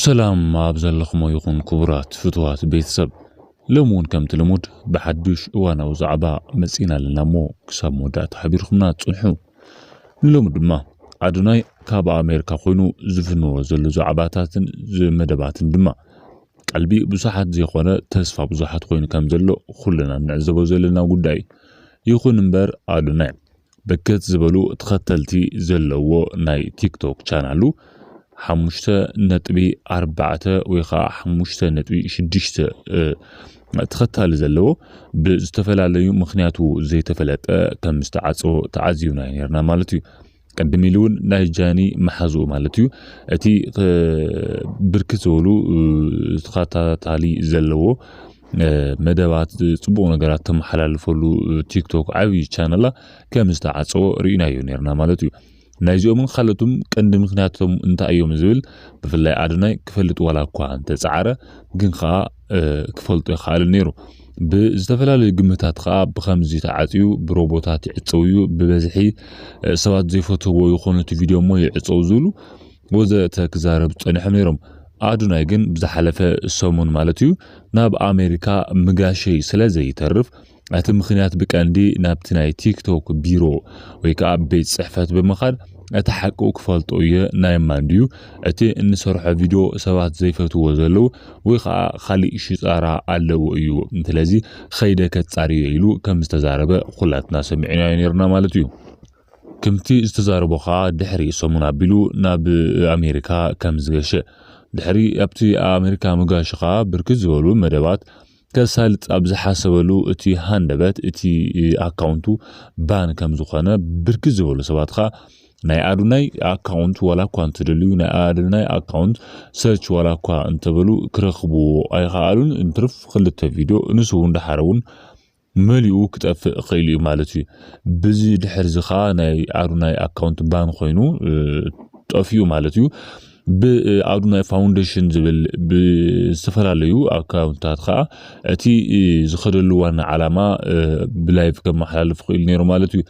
ሰላም ኣብ ዘለኹሞ ይኹን ክቡራት ፍትዋት ቤተሰብ ሎም እውን ከምቲ ልሙድ ብሓዱሽ እዋናዊ ዛዕባ መጺእና ኣለና እሞ ክሳብ መወዳእታ ሓቢርኩምና ጽንሑ ንሎሚ ድማ ኣዶናይ ካብ ኣሜሪካ ኮይኑ ዝፍንዎ ዘሎ ዛዕባታትን መደባትን ድማ ቀልቢ ብዙሓት ዘይኮነ ተስፋ ብዙሓት ኮይኑ ከም ዘሎ ኩልና ንዕዘቦ ዘለና ጉዳይ ይኹን እምበር ኣዶናይ ብርክት ዝበሉ ተኸተልቲ ዘለዎ ናይ ቲክቶክ ቻናሉ ሓሙሽተ ነጥቢ ኣርባዕተ ወይ ከዓ ሓሙሽተ ነጥቢ ሽዱሽተ ተኸታሊ ዘለዎ ብዝተፈላለዩ ምክንያቱ ዘይተፈለጠ ከም ዝተዓፀወ ተዓዚብና ነርና ማለት እዩ ቅድም ኢሉ እውን ናይ ጃኒ መሓዝኡ ማለት እዩ እቲ ብርክት ዝበሉ ተኸታታሊ ዘለዎ መደባት ፅቡቅ ነገራት ተመሓላልፈሉ ቲክቶክ ዓብዪ ቻነላ ከም ዝተዓፀወ ርኢናዮ ነርና ማለት እዩ ናይዚኦምን ካልኦትም ቀንዲ ምክንያቶም እንታይ እዮም ዝብል ብፍላይ ኣድናይ ክፈልጥ ዋላ እኳ እንተፀዓረ ግን ከዓ ክፈልጦ ይኸኣል ነይሩ ብዝተፈላለዩ ግምታት ከዓ ብከምዚ ተዓፅዩ ብሮቦታት ይዕፀው እዩ ብበዝሒ ሰባት ዘይፈትዎ ይኮኑ እቲ ቪድዮ እሞ ይዕፀው ዝብሉ ወዘተ ክዛረብ ጸኒሖም ነይሮም። ኣዱናይ ግን ብዝሓለፈ ሰሙን ማለት እዩ ናብ ኣሜሪካ ምጋሸይ ስለ ዘይተርፍ እቲ ምክንያት ብቀንዲ ናብቲ ናይ ቲክቶክ ቢሮ ወይ ከዓ ቤት ጽሕፈት ብምኻድ እቲ ሓቁ ክፈልጦ እየ ናይ ማን ድዩ እቲ እንሰርሖ ቪድዮ ሰባት ዘይፈትዎ ዘለዉ ወይ ከዓ ካሊእ ሽጣራ ኣለዎ እዩ ስለዚ ኸይደ ከጻርዮ ኢሉ ከም ዝተዛረበ ኩላትና ሰሚዕናዮ ነይርና ማለት እዩ። ክምቲ ዝተዛረቦ ከኣ ድሕሪ ሰሙን ኣቢሉ ናብ ኣሜሪካ ከምዝገሸ፣ ድሕሪ ኣብቲ ኣሜሪካ ምጋሹ ከኣ ብርክት ዝበሉ መደባት ከሳልጥ ኣብ ዝሓሰበሉ እቲ ሃንደበት እቲ ኣካውንቱ ባን ከምዝኾነ ብርክት ዝበሉ ሰባት ከኣ ናይ ኣዶናይ ኣካውንት ዋላ እኳ እንተደልዩ ናይ ኣዶናይ ኣካውንት ሰርች ዋላ እኳ እንተበሉ ክረኽብዎ ኣይኸኣሉን እንትርፍ ክልተ ቪድዮ ንሱ እውን ደሓር እውን መሊኡ ክጠፍእ ኺኢሉ እዩ ማለት እዩ ብዚ ድሕርዚ ከኣ ናይ ኣዱናይ ኣካውንት ባን ኮይኑ ጠፊኡ ማለት እዩ ብኣዱናይ ፋውንዴሽን ዝብል ብዝተፈላለዩ ኣካውንታት ከዓ እቲ ዝኸደሉ ዋና ዓላማ ብላይቭ ከመሓላልፍ ክኢሉ ነይሩ ማለት እዩ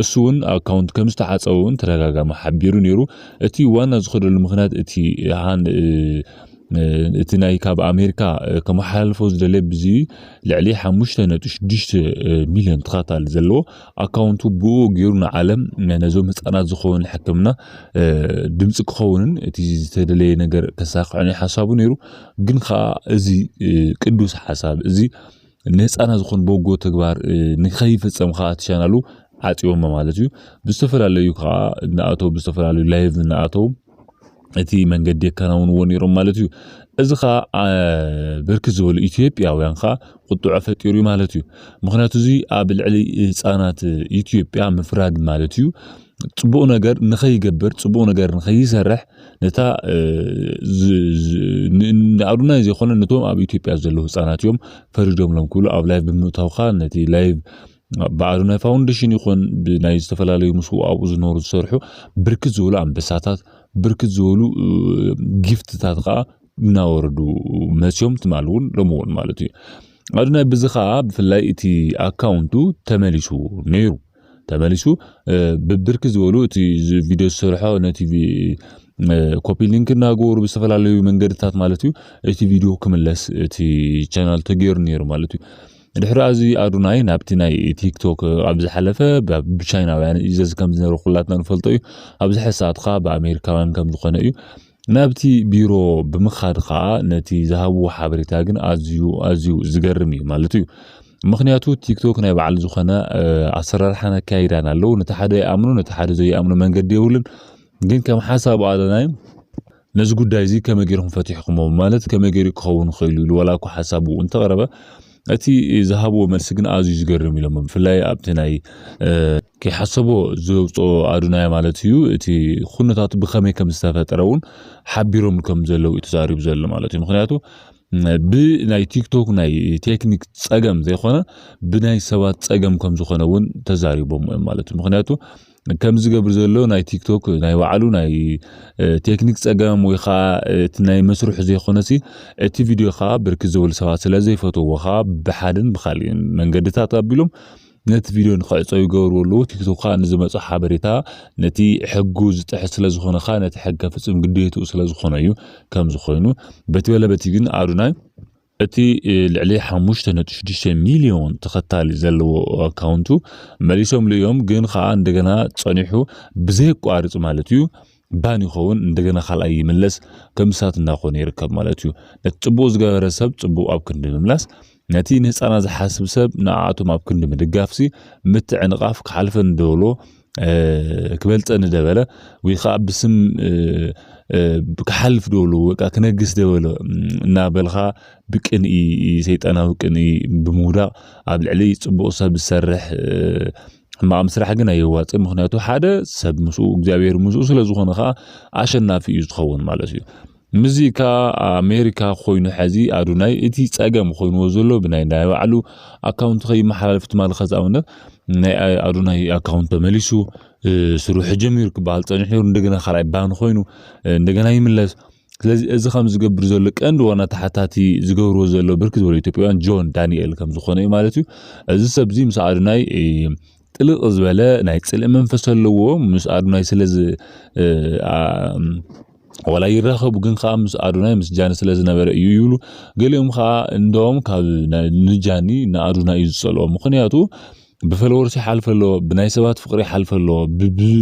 እሱውን ኣካውንት ከም ዝተዓጸወ እውን ተደጋጋሚ ሓቢሩ ነይሩ። እቲ ዋና ዝኸደሉ ምክንያት እቲ እቲ ናይ ካብ ኣሜሪካ ከመሓላልፎ ዝደለየ ብዚ ልዕሊ ሓሙሽተ ነጥቢ ሽዱሽተ ሚልዮን ተኸታታሊ ዘለዎ ኣካውንቱ ብኡ ገይሩ ንዓለም ነዞም ህፃናት ዝኸውን ሕክምና ድምፂ ክኸውንን እቲ ዝተደለየ ነገር ከሳክዕን ሓሳቡ ነይሩ ግን ከዓ እዚ ቅዱስ ሓሳብ እዚ ንህፃናት ዝኾን በጎ ተግባር ንከይፍፀም ከዓ እቲ ቻናሉ ዓፅዮሞ ማለት እዩ ብዝተፈላለዩ ከዓ እናኣተው ብዝተፈላለዩ ላይቭ እናኣተው እቲ መንገዲ የከናውንዎ ነይሮም ማለት እዩ እዚ ከዓ ብርክት ዝበሉ ኢትዮጵያውያን ከዓ ቁጥዖ ፈጢሩ እዩ ማለት እዩ ምክንያቱ እዚ ኣብ ልዕሊ ህፃናት ኢትዮጵያ ምፍራድ ማለት እዩ ፅቡቅ ነገር ንከይገብር ፅቡቅ ነገር ንከይሰርሕ ነታ ንኣብነት ዘይኮነ ነቶም ኣብ ኢትዮጵያ ዘለዉ ህፃናት እዮም ፈሪዶምሎም ክብሉ ኣብ ላይቭ ብምእታውካ ነቲ ላይቭ በዓሉ ናይ ፋውንዴሽን ይኹን ብናይ ዝተፈላለዩ ምስ ኣብኡ ዝነሩ ዝሰርሑ ብርክት ዝበሉ ኣንበሳታት ብርክት ዝበሉ ጊፍትታት ከዓ እናወረዱ መፅዮም ትማል እውን ሎሚ እውን ማለት እዩ ኣዱናይ ብዚ ከዓ ብፍላይ እቲ ኣካውንቱ ተመሊሱ ነይሩ ተመሊሱ ብብርክ ዝበሉ እቲ ቪድዮ ዝሰርሖ ነቲ ኮፒ ሊንክ እናገበሩ ብዝተፈላለዩ መንገድታት ማለት እዩ እቲ ቪድዮ ክምለስ እቲ ቻናል ተገይሩ ነይሩ ማለት እዩ ድሕሪ ኣዚ ኣዱናይ ናብቲ ናይ ቲክቶክ ኣብ ዝሓለፈ ብቻይናውያን እዩ ዘዚ ከም ዝነበረ ኩላትና ንፈልጦ እዩ ኣብዚ ሕሳትካ ብኣሜሪካውያን ከም ዝኾነ እዩ ናብቲ ቢሮ ብምኻድ ኸኣ ነቲ ዝሃብዎ ሓበሬታ ግን ኣዝዩ ኣዝዩ ዝገርም እዩ ማለት እዩ። ምኽንያቱ ቲክቶክ ናይ በዓል ዝኾነ ኣሰራርሓን ኣካይዳን ኣለዎ። ነቲ ሓደ ይኣምኖ ነቲ ሓደ ዘይኣምኖ መንገዲ የብሉን። ግን ከም ሓሳብ ኣለናይ ነዚ ጉዳይ እዚ ከመይ ገይርኩም ፈቲሕኩሞ ማለት ከመይ ገይሩ ክኸውን ይኽእል ኢሉ ዋላ እኳ ሓሳቡ እንተቕረበ እቲ ዝሃብዎ መልሲ ግን ኣዝዩ ዝገርም ኢሎሞ ብፍላይ ኣብቲ ናይ ከይሓሰቦ ዘውፅኦ ኣዱናይ ማለት እዩ እቲ ኩነታት ብከመይ ከም ዝተፈጠረ እውን ሓቢሮም ከም ዘለው እዩ ተዛሪቡ ዘሎ ማለት እዩ ምክንያቱ ብናይ ቲክቶክ ናይ ቴክኒክ ፀገም ዘይኮነ ብናይ ሰባት ፀገም ከም ዝኾነ እውን ተዛሪቦም እዮም ማለት እዩ ምክንያቱ ከምዚ ዝገብር ዘሎ ናይ ቲክቶክ ናይ ባዕሉ ናይ ቴክኒክ ጸገም ወይ ከዓ እቲ ናይ መስርሑ ዘይኮነሲ እቲ ቪድዮ ከዓ ብርክት ዝበሉ ሰባት ስለ ዘይፈትዎ ከዓ ብሓደን ብካልእን መንገድታት ኣቢሎም ነቲ ቪድዮ ንክዕፀ ይገብርዎ ኣለዉ ቲክቶክ ከዓ ንዝመፁ ሓበሬታ ነቲ ሕጉ ዝጥሕስ ስለ ዝኾነ ከዓ ነቲ ሕግ ከፍፅም ግዴትኡ ስለ ዝኾነ እዩ ከምዚ ኮይኑ በቲ በለ በቲ ግን ኣዶናይ እቲ ልዕሊ ሓሙሽተ ነጥቢ ሽዱሽተ ሚልዮን ተኸታሊ ዘለዎ ኣካውንቱ መሊሶምሉ እዮም፣ ግን ኸኣ እንደገና ጸኒሑ ብዘየቋርጽ ማለት እዩ ባን ይኸውን እንደገና ካልኣይ ይምለስ ከምሳት እንዳኾነ ይርከብ ማለት እዩ። ነቲ ጽቡቕ ዝገበረ ሰብ ጽቡቕ ኣብ ክንዲ ምምላስ ነቲ ንህጻናት ዝሓስብ ሰብ ንዓኣቶም ኣብ ክንዲ ምድጋፍሲ ምትዕንቓፍ ክሓልፈኒ ዶ እብሎ ክበልጸኒ ደበለ ወይ ከዓ ብስም ክሓልፍ ደበሎ ወይከ ክነግስ ደበሎ እናበልኻ ብቅንኢ ሰይጣናዊ ቅንኢ ብምውዳቕ ኣብ ልዕሊ ጽቡቕ ሰብ ዝሰርሕ ሕማቕ ምስራሕ ግን ኣየዋጽእን ምክንያቱ ሓደ ሰብ ምስኡ እግዚኣብሔር ምስኡ ስለ ዝኾነ ኸኣ ኣሸናፊ እዩ ዝኸውን ማለት እዩ። ምዚ ከኣ ኣሜሪካ ኮይኑ ሐዚ ኣዶናይ እቲ ጸገም ኮይንዎ ዘሎ ብናይ ናይ ባዕሉ ኣካውንት ከይመሓላለፍ ትማሊ ከዚ ኣብነት ናይ ኣዶናይ ኣካውንት ተመሊሱ ስርሑ ጀሚሩ ክበሃል ጸኒሑ ነይሩ እንደገና ካልኣይ ባን ኮይኑ እንደገና ይምለስ ስለዚ እዚ ከም ዝገብር ዘሎ ቀንዲ ዋና ተሓታቲ ዝገብርዎ ዘሎ ብርክት ዝበሉ ኢትዮጵያውያን ጆን ዳንኤል ከም ዝኾነ እዩ ማለት እዩ እዚ ሰብዚ ምስ ኣዶናይ ጥልቅ ዝበለ ናይ ጽልኢ መንፈስ ኣለዎ ምስ ኣዶናይ ስለ ዋላ ይራኸቡ ግን ከዓ ምስ ኣዶናይ ምስ ጃኒ ስለ ዝነበረ እዩ ይብሉ ገሊኦም ከዓ እንደም ካብ ንጃኒ ንኣዶናይ እዩ ዝጸልኦ ምክንያቱ ብፈለወርሲ ይሓልፈ ኣለዎ ብናይ ሰባት ፍቅሪ ይሓልፈ ኣለዎ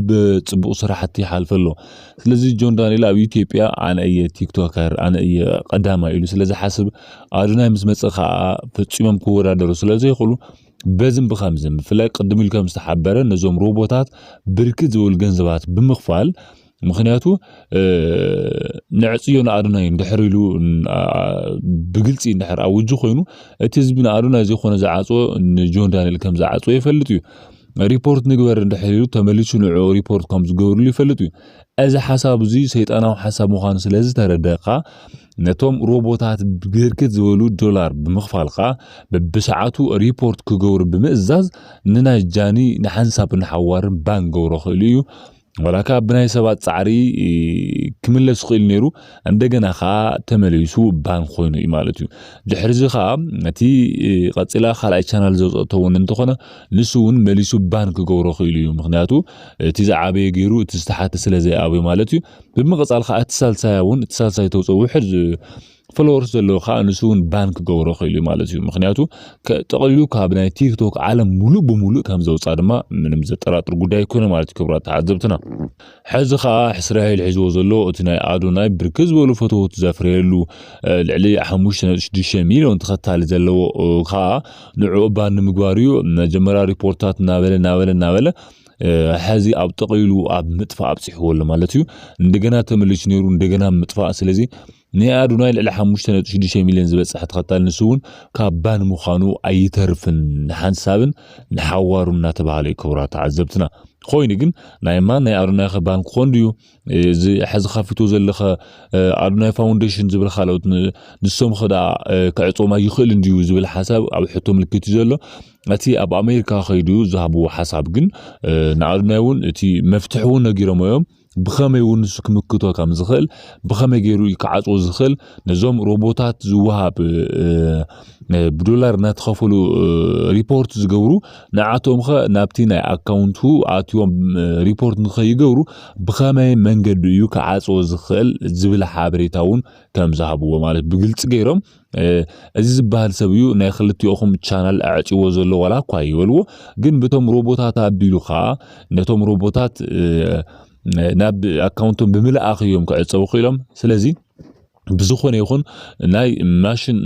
ብጽቡቅ ስራሕቲ ይሓልፈ ኣለዎ ስለዚ ጆን ዳንኤል ኣብ ኢትዮጵያ ኣነ እየ ቲክቶከር ኣነ እየ ቀዳማይ ኢሉ ስለ ዝሓስብ ኣዶናይ ምስ መጸ ከዓ ፈጺሞም ክወዳደሩ ስለ ዘይክእሉ በዝን ብኸምዝን ብፍላይ ቅድም ኢሉ ከም ዝተሓበረ ነዞም ሮቦታት ብርክት ዝብል ገንዘባት ብምኽፋል ምክንያቱ ንዕፅዮ ንኣዶናይ እንድሕር ኢሉ ብግልፂ እንድሕር ኣውጁ ኮይኑ እቲ ህዝቢ ንኣዶናይ ዘይኮነ ዝዓፅዎ ንጆን ዳንኤል ከም ዝዓፅዎ ይፈልጥ እዩ ሪፖርት ንግበር እንድሕር ኢሉ ተመሊሱ ንዕኡ ሪፖርት ከም ዝገብርሉ ይፈልጥ እዩ እዚ ሓሳብ እዚ ሰይጣናዊ ሓሳብ ምዃኑ ስለ ዝተረደእካ ነቶም ሮቦታት ብርክት ዝበሉ ዶላር ብምኽፋል ኸኣ በብሰዓቱ ሪፖርት ክገብሩ ብምእዛዝ ንናይ ጃኒ ንሓንሳብን ንሓዋርን ባን ገብሮ ክእሉ እዩ ዋላካ ብናይ ሰባት ጻዕሪ ክምለስ ይኽእል ነይሩ እንደገና ከኣ ተመሊሱ ባን ኮይኑ እዩ ማለት እዩ ድሕርዚ ከኣ ነቲ ቀጺላ ካልኣይ ቻናል ዘውጸእቶ እውን እንተኾነ ንሱ እውን መሊሱ ባን ክገብሮ ክኢሉ እዩ ምክንያቱ እቲ ዝዓበየ ገይሩ እቲ ዝተሓተ ስለ ዘይኣብዮ ማለት እዩ ብምቕጻል ከኣ እቲ ሳልሳያ እውን እቲ ሳልሳይ ተውጽኦ ውሕድ ፎሎወርስ ዘለዎ ከዓ ንሱ እውን ባን ክገብሮ ክኢሉ እዩ ማለት እዩ ምክንያቱ ጠቕሊሉ ካብ ናይ ቲክቶክ ዓለም ሙሉእ ብሙሉእ ከም ዘውፃ ድማ ምንም ዘጠራጥር ጉዳይ ኣይኮነ ማለት እዩ ክብራት ተዓዘብትና ሕዚ ከኣ እስራኤል ሒዝዎ ዘሎ እቲ ናይ ኣዶናይ ብርክት ዝበሉ ፈተውቲ ዘፍረየሉ ልዕሊ ሓሙሽተ ነጥቢ ሽዱሽተ ሚልዮን ተኸታሊ ዘለዎ ከኣ ንዕኡ ባን ንምግባር እዩ መጀመርያ ሪፖርታት እናበለ እናበለ እናበለ ሕዚ ኣብ ጠቕሊሉ ኣብ ምጥፋእ ኣብፂሕዎ ኣሎ ማለት እዩ እንደገና ተመሊሱ ነይሩ እንደገና ምጥፋእ ስለዚ ናይ ኣዶናይ ልዕሊ ሓሙሽተ ነጥቢ ሽዱሽተ ሚልዮን ዝበጽሐ ተኸታሊ ንሱ እውን ካብ ባን ምዃኑ ኣይተርፍን ንሓንሳብን ንሓዋሩን እናተባህለ እዩ ክብራ ተዓዘብትና ኮይኑ ግን ናይ ማን ናይ ኣዶናይ ከ ባን ክኾን ድዩ እዚ ሕዚ ከፊቶ ዘለኸ ኣዶናይ ፋውንዴሽን ዝብል ካልኦት ንሶም ከዳ ክዕጾም ኣይኽእልን ድዩ ዝብል ሓሳብ ኣብ ሕቶ ምልክት እዩ ዘሎ እቲ ኣብ ኣሜሪካ ከይዱ ዝሃብዎ ሓሳብ ግን ንኣዶናይ እውን እቲ መፍትሒ እውን ነጊሮሞ እዮም ብኸመይ እውን ንሱ ክምክቶ ከም ዝኽእል ብኸመይ ገይሩ እዩ ክዓፅዎ ዝኽእል ነዞም ሮቦታት ዝወሃብ ብዶላር እናተኸፈሉ ሪፖርት ዝገብሩ ንዓቶም ኸ ናብቲ ናይ ኣካውንቱ ኣትዮም ሪፖርት ንኸይገብሩ ብኸመይ መንገዲ እዩ ክዓፅዎ ዝኽእል ዝብል ሓበሬታ እውን ከም ዝሃብዎ ማለት ብግልፂ ገይሮም እዚ ዝበሃል ሰብ እዩ ናይ ክልቲኦኹም ቻናል ኣዕጽዎ ዘሎ ዋላ እኳ ይበልዎ ግን ብቶም ሮቦታት ኣቢሉ ከዓ ነቶም ሮቦታት ናብ ኣካውንቶም ብምልኣኽ እዮም ክዕጸቡ ክኢሎም ስለዚ ብዝኾነ ይኹን ናይ ማሽን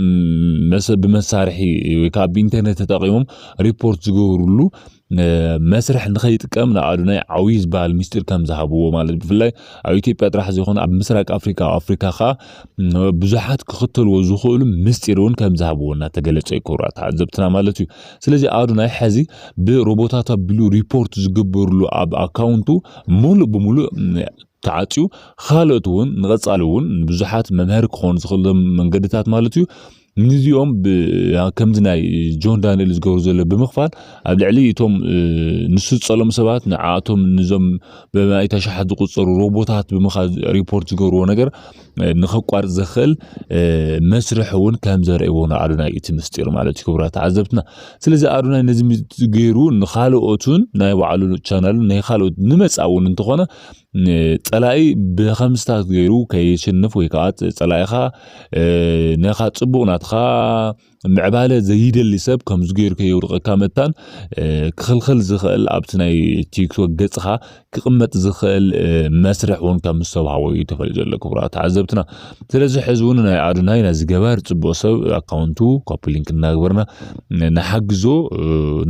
ብመሳርሒ ወይ ከዓ ብኢንተርኔት ተጠቂሞም ሪፖርት ዝገብርሉ መስርሕ ንኸይጥቀም ንኣዶናይ ዓብዪ ዝበሃል ሚስጢር ከም ዝሃብዎ ማለት ብፍላይ ኣብ ኢትዮጵያ ጥራሕ ዘይኮነ ኣብ ምስራቅ ኣፍሪካ ኣብ ኣፍሪካ ከዓ ብዙሓት ክኽተልዎ ዝኽእሉ ምስጢር እውን ከም ዝሃብዎ እናተገለጸ እዩ ክብራ ተዓዘብትና ማለት እዩ ስለዚ ኣዶናይ ሕዚ ብሮቦታት ኣቢሉ ሪፖርት ዝግበርሉ ኣብ ኣካውንቱ ሙሉእ ብሙሉእ ተዓጽዩ ኻልኦት እውን ንቐጻሊ እውን ንብዙሓት መምሀሪ ክኾኑ ዝኽእሎም መንገድታት ማለት እዩ ንዚኦም ከምዚ ናይ ጆን ዳንኤል ዝገብሩ ዘሎ ብምኽፋል ኣብ ልዕሊ እቶም ንሱ ዝጸሎም ሰባት ንዓኣቶም ንዞም ብመኣይት ኣሽሓት ዝቁጸሩ ሮቦታት ብምኻ ሪፖርት ዝገብርዎ ነገር ንኸቋርፅ ዘኽእል መስርሕ እውን ከም ዘርእዎ ንኣዶናይ እቲ ምስጢር ማለት እዩ ክቡራት ተዓዘብትና ስለዚ ኣዶናይ ነዚ ገይሩ ንካልኦትን ናይ ባዕሉ ቻናሉ ናይ ካልኦት ንመፃ እውን እንተኾነ ፀላኢ ብከምስታት ገይሩ ከየሸንፍ ወይ ከዓ ፀላኢኻ ነኻ ፅቡቅ ናትኻ ምዕባለ ዘይደሊ ሰብ ከምዚ ገይሩ ከየውድቐካ መታን ክኽልኽል ዝኽእል ኣብቲ ናይ ቲክቶክ ገጽኻ ክቕመጥ ዝኽእል መስርሕ እውን ከም ዝተዋሃቦ እዩ ተፈሊጡ ዘሎ ክቡራት ተዓዘብትና ስለዚ ሕዚ እውን ናይ ኣዶናይ ነዚ ገባር ጽቡቕ ሰብ ኣካውንቱ ኮፒ ሊንክ እናግበርና ንሓግዞ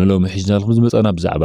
ንሎሚ ሒዝናልኩም ዝመጻና ብዛዕባ